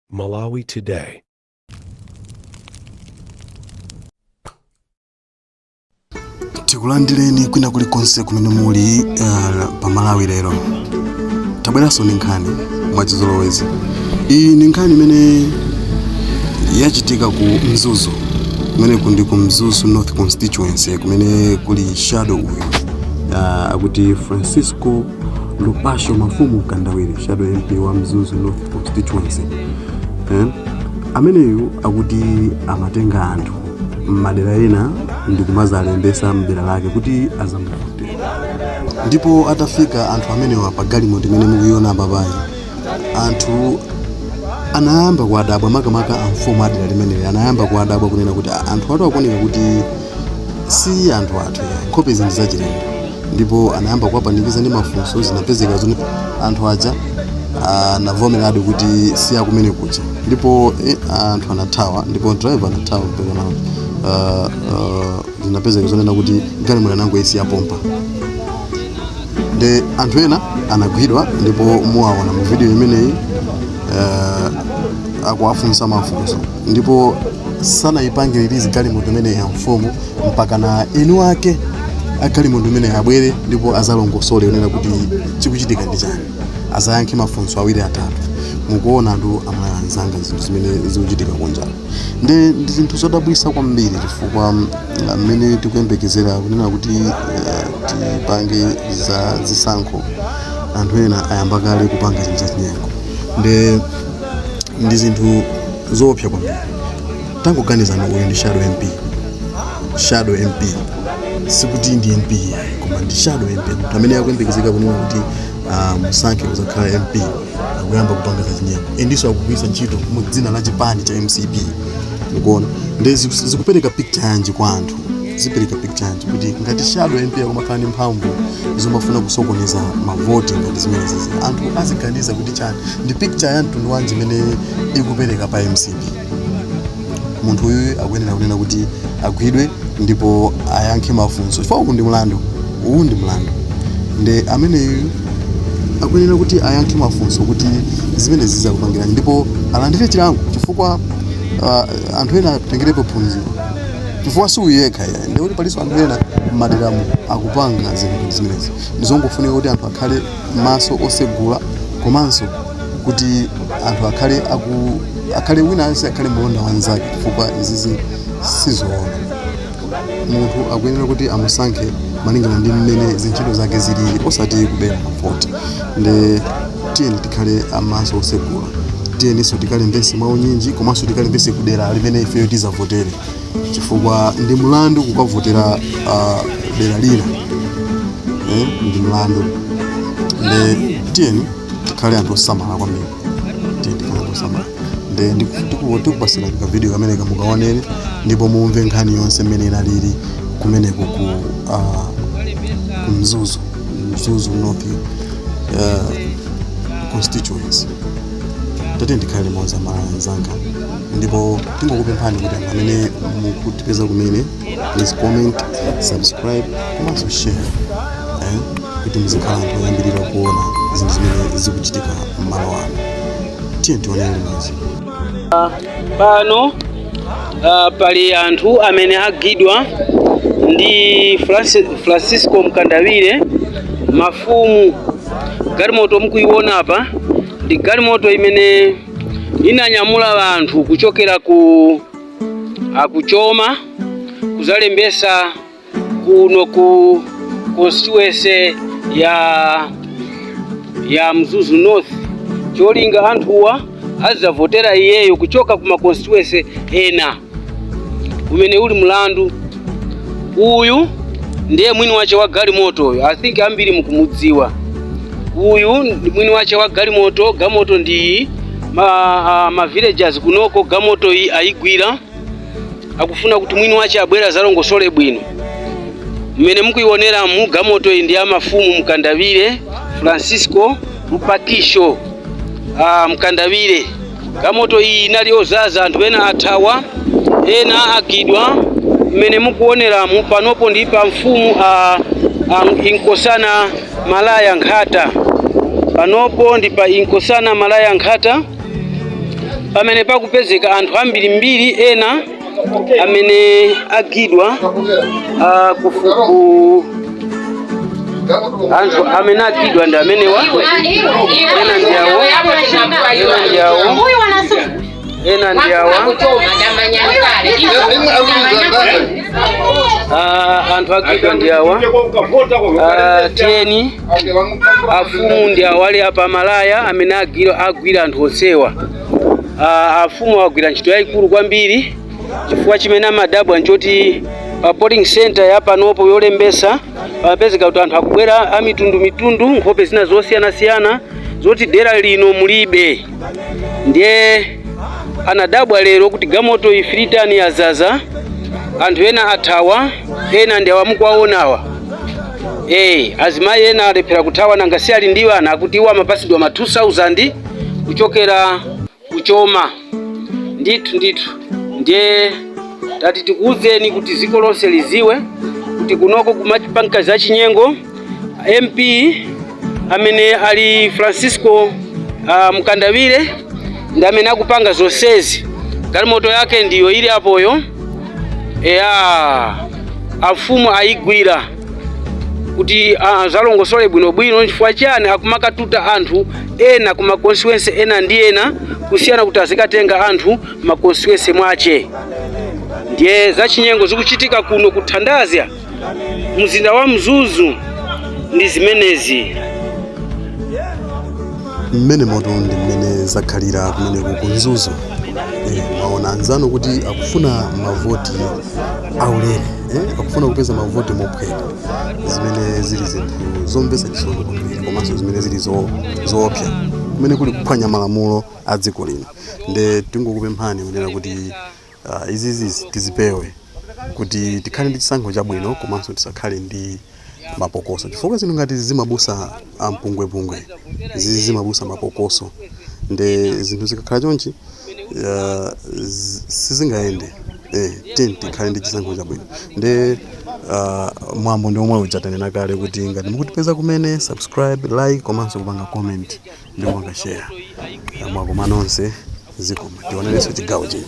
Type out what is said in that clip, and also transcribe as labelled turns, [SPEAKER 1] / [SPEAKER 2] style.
[SPEAKER 1] Malawi Today.
[SPEAKER 2] tikulandireni kwina kulikonse kumene muli uh, pa malawi lero tabweranso ndi nkhani mwachizolowezi iyi ndi nkhani imene yachitika ku mzuzu kumene kundi ku mzuzu north constituency kumene kuli shadow uyu uh, akuti francisco Lupasho Mafumu Kandawire shadow MP wa Mzuzu North constituency eh? ameneyu akuti amatenga anthu m'madera ena ndi kumazalembesa mdera lake kuti azamuvote ndipo atafika anthu amenewa pa galimoto imene mukuiona apapayi anthu anayamba kuwadabwa makamaka amfumu adera limeneli anayamba kuwadabwa kunena kuti "Ah, anthu awatu akuoneka kuti si anthu athu ayi nkhope ndi zachilendo ndipo anayamba kuwapanikiza ndi mafunso zinapezeka zoti anthu aja anavomeradi kuti si akumene kuja ndipo eh, anthu anathawa ndipo driver anathawa mpakana uh, uh, zinapezeka zonena kuti galimoto anangoisiya pompa nde anthu ena anagwidwa ndipo muwaona mu video imeneyi uh, akuwafunsa mafunso ndipo sanayipange release galimoto imeneyi amfumu mpakana eni wake a galimoto imeneyi abwere ndipo azalongosole zonena kuti chikuchitika ndi chani azayankhe mafunso awiri atatu mukuona anthu Amalawi anzanga zinthu zimene zikuchitika kunja nde ndi zinthu zodabwisa kwambiri chifukwa mm, mmene tikuyembekezera kunena kuti eh, tipange za zisankho anthu ena ayamba kale kupanga zinthu zachinyengo nde ndi zinthu zoopsa kwambiri tangoganizani uyu ndi shadow mp shadow mp sikuti ndi mp yayi, koma ndi shadow mp munthu amene akuyembekezeka kunena kuti ah, musankhe kuzakhala mp akuyamba kupanga zachinyengo endiso akugwiritsa ntchito mu dzina la chipani cha mcp mukuona nde ziku- zikupereka picture yanji kwa anthu zipereka picture yanji kuti ngati shadow mp akumakhala ndi mphamvu zomafuna kusokoneza mavoti ngati zimenezizi anthu aziganiza kuti chani ndi picture ya mtundu wanji imene ikupereka pa mcp munthu uyu akuyenera kunena kuti agwidwe ndipo ayankhe mafunso chifukwa uwu ndi mlandu uwu ndi mlandu nde ameneyu akuyenera kuti ayankhe mafunso kuti zimenezizi akupangiranji ndipo alandire chilango chifukwa uh, anthu ena atengerepo phunziro chifukwa si uyu yekha iyayi ndikuti palinso anthu ena m'maderamu akupanga zinthu zimenezi ndizongofunika kuti anthu akhale maso osegula komanso kuti anthu akhale aku akhale wina aliyense akhale mlonda wa nzake chifukwa izizi sizoona munthu akuyenera kuti amusankhe malingana ndi mmene zintchito zake zilili osati kubera mavoti nde tiyeni tikhale amaso osegula tiyeninso tikalembese mwa unyinji komanso tikalembese kudera limene ifeyo tizavotere chifukwa ndi mlandu kukavotera ah, dera lina eh, ndi mlandu nde tiyeni tikhale anthu osamala kwambiri tiyeni tikhale anthu osamala nde ndiku- tiku- tikupasirani ka video kamene kamukaonere ndipo mumve nkhani yonse mmene inalili kumeneko ku ah, ku mzuzu mzuzu north uh, constituency tiyeni tikhale limodzi amalawi anzanga ndipo tingokupemphani kuti anthu amene mukutipeza kumene please comment subscribe komanso share eh, kuti muzikhala anthu oyambirira kuona zinthu zimene zikuchitika m'Malawi muno tiyeni tionere limodzi
[SPEAKER 3] pano ah, pali anthu amene agwidwa ndi Franci- francisco mkandawire mafumu galimoto mukuiona apa ndi galimoto imene inanyamula anthu kuchokera uko ku Choma kuzalembesa kuno ku constituency ya ya Mzuzu North cholinga anthuwa azavotera iyeyo kuchoka ku makonstituency ena umene uli mlandu uyu ndiye mwini wache wa galimoto iyi i think ambiri mukumudziwa uyu ndi mwini wache wa galimoto galimoto ndi ma, uh, ma villagers kunoko galimoto iyi ayigwira akufuna kuti mwini wache abwere azalongosole bwino mmene mukuioneramu gamoto iyi ndi ya mafumu mkandawire francisco lupakisho ah, mkandawire gamoto iyi inali ozaza anthu ena athawa ena agwidwa mmene mukuoneramu panopo ndi pa mfumu a, a inkosana malaya nkhata panopo ndi pa inkosana malaya nkhata pamene pakupezeka anthu ambirimbiri ena amene agwidwa ah, kufuku anthu amene agwidwa ndi amenewa ena ndi awo ena ndi awo ena ndi awa Ah, anthu agwidwa ndi awa Ah, tiyeni afumu ndi awale apa malaya amene agwira agwira anthu onsewa Ah, afumu agwira ntchito yayikulu kwambiri chifukwa chimene amadabwa nchoti pa polling center yapanopo yolembesa pamapezeka kuti anthu akubwera amitundumitundu nkhope zina zosiyanasiyana zoti dera lino mulibe ndiye anadabwa lero kuti gamoto ya 3 ton yazaza anthu ena athawa ena ndi awa mukuwaonawa Eee, azimayi ena alephera kuthawa nanga si ali ndi ana akuti iwo amapasidwa ma 2000 kuchokera kuchoma ndithu ndithu ndiye tati tikuwuzeni kuti dziko lonse liziwe kuti kunoko kumachitika za chinyengo mp amene ali francisco uh, mkandawire ndi amene akupanga zonsezi galimoto yake ndiyo ili apoyo eya afumu ayigwira kuti azalongosole bwinobwino chifukwa chiyani akumakatuta anthu ena ku ma constituency ena ndi ena kusiyana kuti azikatenga anthu m'ma constituency mwache ndiye zachinyengo zikuchitika kuno kuthandazya mzinda wa mzuzu ndi zimenezi
[SPEAKER 2] mmene moto ndi mmene zakhalira kumeneko ku mzuzu eh, mwaona anzanu kuti akufuna mavoti aulere eh, akufuna kupeza mavoti mophweka zimene zili zinthu zomvetsa chisoni kwambiri komanso zimene zili zo- zoopsa kumene kuli kuphwanya malamulo a dziko lino nde tingokupemphani kunena kuti Uh, izizi tizipewe kuti tikhale ndi chisankho chabwino komanso tisakhale ndi mapokoso chifukwa zinthu ngati izi zimabusa ampungwepungwe zizi zimabusa mapokoso nde zinthu zikakhala chonchi uh, sizingayende eh, tiyeni tikhale ndi chisankho chabwino nde uh, mwambo ndi omwe uja tanena kale kuti ngati mukutipeza kumene subscribe like komanso kupanga comment ndi kupanga share mwakoma nonse zikomo tionerenso chigawo chino